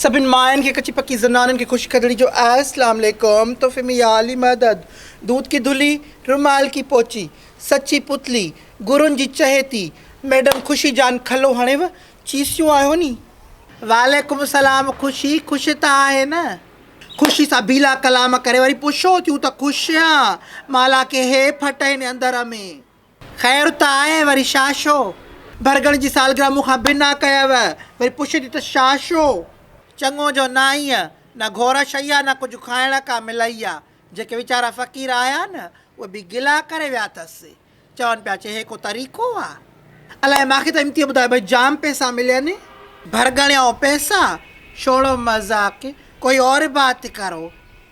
سڀني ماين کي ڪچي پڪي زنانن کي خوش ڪرڻي جو آهي اسلام عليڪم تحفي ۾ يا علي مدد دود ڪي دھلي رومال ڪي پوچي سچي پتلي گرون جي چهيتي ميڊم خوشي جان کلو هڻيو چيسيون آهيو ني. وعليڪم السلام خوشي خوش ته آهي نه. خوشي سان بيلا ڪلام ڪري وري پڇو ٿيون ته خوش آن مالان ڪي هي ڦٽ هين اندر ۾. خير ته آهي وري شاهه شو. برگڻ جي سالگرهه مون کان بنا ڪيوء، وري پڇيدي ته شاهه شو. چڱو جو ناهينء، نه گهور شيء آ نه ڪجهه کائڻ ڪا ملئي آ. جيڪي ويچارا فقير آيا نه، اهي به گلا ڪري ويا اٿس. چون پيا چي هي ڪو طريقو آ. الائي ماکي ته امتيء ٻڌايو ڀئي جام پئسا ملين. برگڻيو پئسا؟ ڇوڙو مذاق، ڪوئي اور بات ڪرو.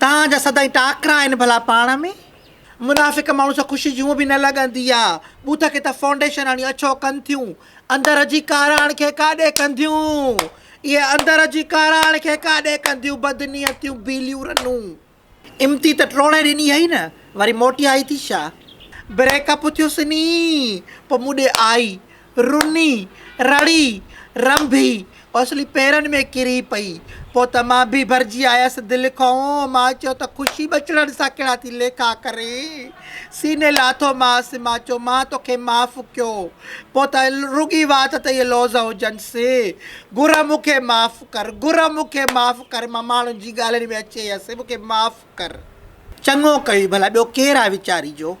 توهان جا سدائين ٽاڪرا آهن ڀلا پاڻ ۾. منافق ماڻهو سان خوشي جون به نه لڳندي آ. بوٿ کي ته فائونڊيشن هڻي اڇو ڪن ٿيون. اندر جي ڪاراڻ کي ڪاڏي ڪنديون. اهي اندر جي ڪاراڻ کي ڪاڏي ڪنديون بدنيتيون بيليون رنون. امتي ته ٽوڙي ڏني هئي نه وري موٽي آئي ٿي ڇا. بريڪ اپ ٿيو سني پوء مون ڏي آئي. رني، رڙي، رنڀي، اوسلي پيرن ۾ ڪري پئي. پوء ته مان به ڀرجي آيس دل کئون. مان چيو ته خوشي ٻچڙن سان ڪهڙا ٿي ليکا ڪرين. سيني لاٿو مانس. مان چيو مان توکي معاف ڪيو. پوء ته رڳي وات ته اهي لوظ هجنس. گر مون کي معاف ڪر. گر مون کي معاف ڪر. مان ماڻهن جي ڳالهين ۾ اچي هيس. مون کي معاف ڪر. چڱو ڪيئي ڀلا ٻيو ڪير آهي ويچاري جو.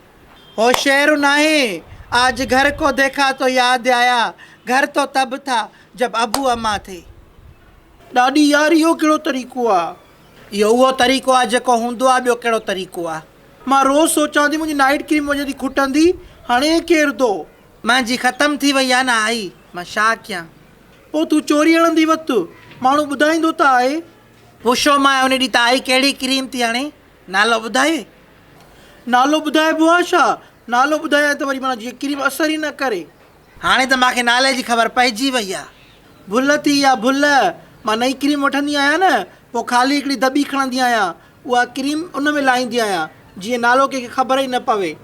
هو شعر ناهي آج گهر ڪو ديکا تو ياد آيا گهر تو تب ٿا جب ابو امان ٿي. ڏاڏي يار اهو ڪهڙو طريقو آ. اهو اهو طريقو آ جيڪو هوندو آ ٻيو ڪهڙو طريقو آ. مان روز سوچان ٿي منهنجي نائيٽ ڪريم وڃي ٿي کٽندي هاڻي هي ڪير ٿو. منهنجي ختم ٿي وئي آ نه آئي مان ڇا ڪيان. پوء تون چوري هڻندي وقت ماڻهو ٻڌائيندو ته آهي. پڇيومانء ان ڏينهن ته آئي ڪهڙي ڪريم ٿي هڻي نالو ٻڌائي؟ نالو ٻڌائبو آ ڇا؟ نالو ٻڌايائين ته وري معنيٰ جيئن ڪريم اثر ئي نه ڪري. هاڻي ته مان کي نالي جي خبر پئجي وئي آ. ڀل ٿي يا ڀل، مان نئين ڪريم وٺندي آهيان نه، پوء خالي هڪڙي دٻي کڻندي آهيان. اها ڪريم ان ۾ لائيندي آهيان، جيئن نالو ڪنهن کي خبر ئي نه پوي.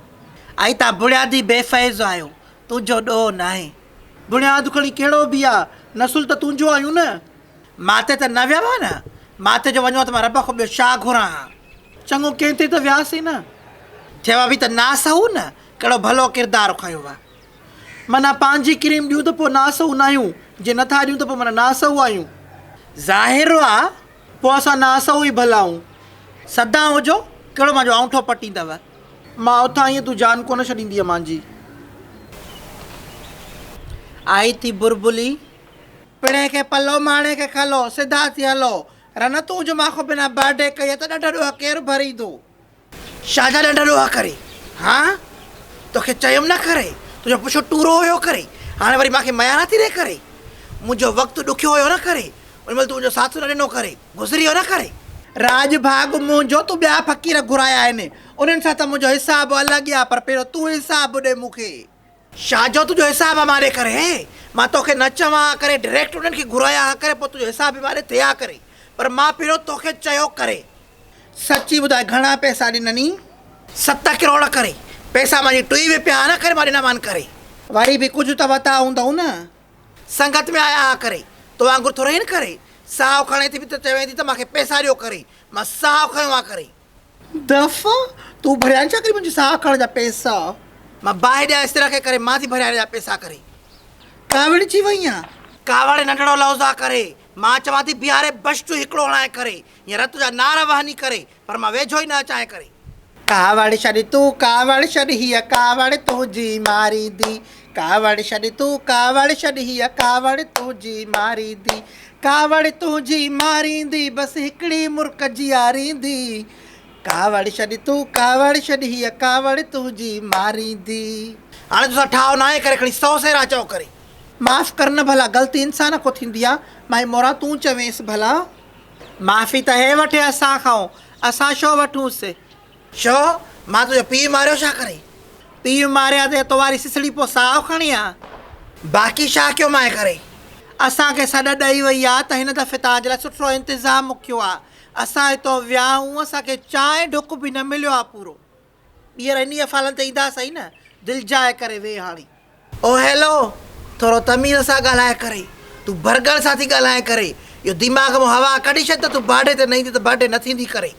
ائين تان بڻيادي بي فيض آهيو. تنهنجو ڏوهه ناهي. بڻياد کڻي ڪهڙو به آ، نسل ته تنهنجو آهيون نه. ماتي ته نه ويو آهيان نه، ماتي جو وڃون ها ته مان رب کان ٻيو ڇا گهران ها؟ چڱو ڪنهن تي ته وياس ئي نه. ٿيو به ته ناسهو نه، ڪهڙو ڀلو ڪردار کنيو ها. معنيٰ پنهنجي ڪريم ڏيون ته پوء ناسهو ناهيون، جي نٿا ڏيون ته پوء معنيٰ ناسهو آهيون. ظاهر آ، پوء اسان ناسهو ئي ڀلا آهون. سدائون هجو، ڪهڙو مانجو آڱٺو پٽيندؤ؟ مان اٿان ايئن تون جان ڪونه ڇڏيندينء مانجي. آهي ٿي بربلي. پڻهين کي پلو ماڻي کي کلو، سڌا ٿي هلو، رنه تون جو ماخو بنا باڊي ڪيئي ته ڏڍ ڏوهه ڪير ڀريندو؟ شاهه جا ڏڍ ڏوهه ڪري هان توکي چيم نه ڪري، تنهنجو پڇو ٽورو هيو ڪري، هاڻي وري ماکي ميان نه ٿي ڏي ڪري، منهنجو وقت ڏکيو هيو نه ڪري، ان مهل تون منهنجو ساٿ نه ڏنو ڪري، گذري ويو نه ڪري. راڄ ڀاڳ منهنجو تون ٻيا فقير گهرايا آهن، انهن سان ته منهنجو حساب الڳ آ، پر پهريون تون حساب ڏي مون کي. شاھ جو تنھنجو حساب ھا ماري ڪري ھي مان توکي نه چوان ھا ڪري ڊريڪٽ انھن کي گھرايان ھا ڪري پوء تنھنجو حساب ھي ماري ٿي ھا ڪري پر مان پھريون توکي چيو ڪري. سچي ٻڌاء گھڻا پئسا ڏنئين؟ ست ڪروڙ ڪري پئسا مانجي ٽوئي ۾ پيا ھا ڪري مان ڏنا مان ڪري. وري به ڪجھ ته وتا ھوندئون نه. سنگت ۾ آيا ھا ڪري تو وانگر ٿوري ھين ڪري ساھو کڻي ٿي به ته چوين ٿي ته مانکي پئسا ڏيو ڪري مان ساھو کنيو ھا ڪري. دفعا تون ڀريائين ڇا ڪري منهنجي ساهه کڻڻ جا پيسا. مان باهه ڏيان استريء کي ڪري مان ٿي ڀريائين جا پيسا ڪري. ڪاوڙي ٿي وئين آهي. ڪاوڙي ننڍڙو لفظ آهي ڪري. مان چوان ٿي بيهاري بش جو هڪڙو هڻائين ڪري يا رت جا نعره وهني ڪري پر مان ويجهو ئي نه اچانء ڪري. ڪاوڙ ڇڏ تون ڪاوڙ ڇڏ هيء ڪاوڙ تنهنجي ماريندي. ڪاوڙ ڇڏ تون ڪاوڙ ڇڏ هيء ڪاوڙ تنهنجي ماريندي ڪاوڙ تنهنجي ماريندي بس هڪڙي مرڪ جياريندي ڪاوڙ ڇڏ تون ڪاوڙ ڇڏ هيء ڪاوڙ تنهنجي ماريندي. هاڻي توسان ٺاهه ناهي ڪري کڻي سو سيرا چئو ڪري. معاف ڪر نه ڀلا غلطي انسان کون ٿيندي آ مائي موران تون چوينس ڀلا. معافي ته هي وٺي اسان کئون اسان ڇو وٺونس. ڇو مان تنهنجو پيء ماريو ڇا ڪري؟ پيء ماريا تي تو واري سسڙي پو ساهه کڻي ها. باقي ڇا ڪيو مانء ڪري؟ اسان کي سڏ ڏئي وئي آ ته هن دفعي توهان جي لاء سٺو انتظام ڪيو آ. اسان هتون ويا آهون اسان کي چانهه ڍڪ به نه مليو آ پورو. ٻيهر انهيء ڦالن تي ايندا سهي نه. دلجاء ڪري ويهه هاڻي. او هيلو ٿورو تميز سان ڳالهاء ڪري تون برگر سان ٿي ڳالهائين ڪري اهو دماغ مان هوا ڪڍي ڇڏ ته تون برڊي تي نه ايندي ته برڊي نه ٿيندي ڪري.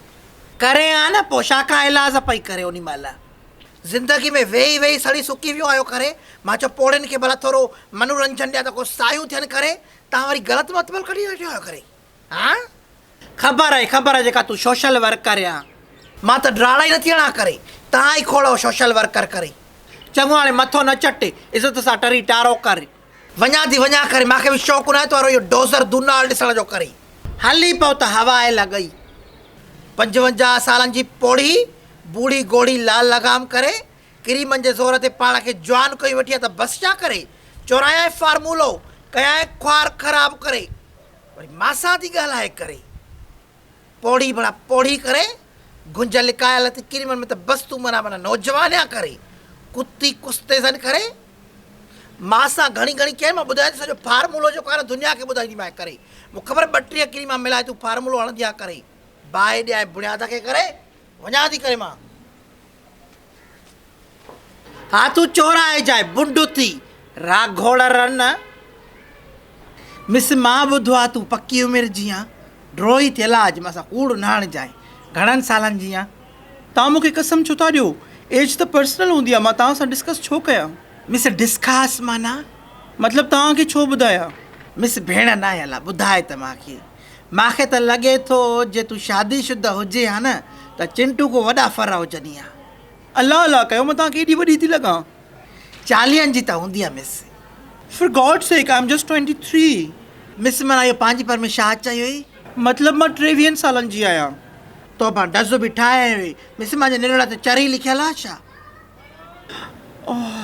ڪري ها نه پوء ڇا کان ايلاز پئي ڪري انهي مهل زندگي ۾ ويهي ويهي سڙي سڪي ويو آهيو ڪري مان چيو پوڙهين کي ڀلا ٿورو منورنجن ڏيان ته ڪو سايون ٿين ڪري تان وري غلط مطبل ڪڍي ويٺو آهيو ڪري. ها خبر آهي خبر آهي جيڪا تون سوشل ورڪر يا مان ته ڊراڙا ئي نٿي هڻان ڪري تان ئي کوڙو سوشل ورڪر ڪري چڱو هاڻي مٿو نه چٽ عزت سان ٽري ٽارو ڪر وڃان ٿي وڃان ڪري مان کي به شوق ناهي تون وارو اهو ڊوزر دونال ڏسڻ جو ڪري هلي پئو ته هوا آهي لڳئي پنجونجاهه سالن جي پوڙهي بوڙهي گوڙهي لال لغام ڪري ڪريمن جي زور تي پاڻ کي جوان ڪيو ويٺي آهي ته بس ڇا ڪري چورانيائين فارمولو ڪيائين خوار خراب ڪري وري ماسان ٿي ڳالهائي ڪري پوڙهي بڻا پوڙهي ڪري گنج لڪايل اٿي ڪري من مت بس تون منا منا نوجوانيا ڪري ڪتي ڪستي سن ڪري ماسان گهڻي گهڻي ڪير مان ٻڌايو سڄو فارمولو جو ڪار دنيا کي ٻڌائي مان ڪري مون خبر ٻٽريا ڪري مان ملائي تون فارمولو هڻندي آ ڪري باهي ڏيا بڻيادا کي ڪري وڃا ٿي ڪري مان ها تون چور آهي جاء بنڊ اٿي را گهوڙ رن مس مان ٻڌو آ تون پڪي عمر جيان ڊروهي ٿيل آج مان سان ڪوڙ نه هڻ جاء گهڻن سالن جيان توهان مونکي قسم ڇو ٿا ڏيو ايج ته پرسنل هوندي آ مان توهان سان ڊسڪس ڇو ڪيان مس ڊسڪاس معنيٰ مطلب توهان کي ڇو ٻڌايان مس ڀيڻ ناهي الا ٻڌاء ته مان کي. مان کي ته لڳي ٿو جي تون شادي شده هجين ها نه ته چنٽو ڪو وڏا ڦر هجني ها. الله الله ڪيو مان توهانکي ايڏي وڏي ٿي لڳان. چاليهن جي ته هوندينء مس. For God sake I am just twenty three. Miss منا اهو پنهنجي پر ۾ شا چيو هئي؟ مطلب مان ٽيويهن سالن جي آهيان. تو مان ڊز به ٺاهيائين هئي. مس مانجي نرڙ تي چري لکيل آهي ڇا؟ اوه.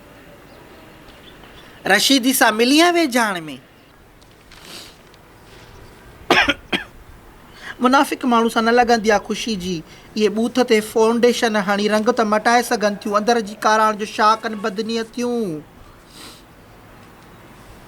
رشيدي سان ملي ها ويجهاڻ ۾. منافق ماڻهو سان نه لڳندي آ خوشي جي اهي ٻوٿ تي فائونڊيشن هڻي رنگ ته مٽائي سگهن ٿيون اندر جي ڪاراڻ جو شاهه ڪن بدنيتيون.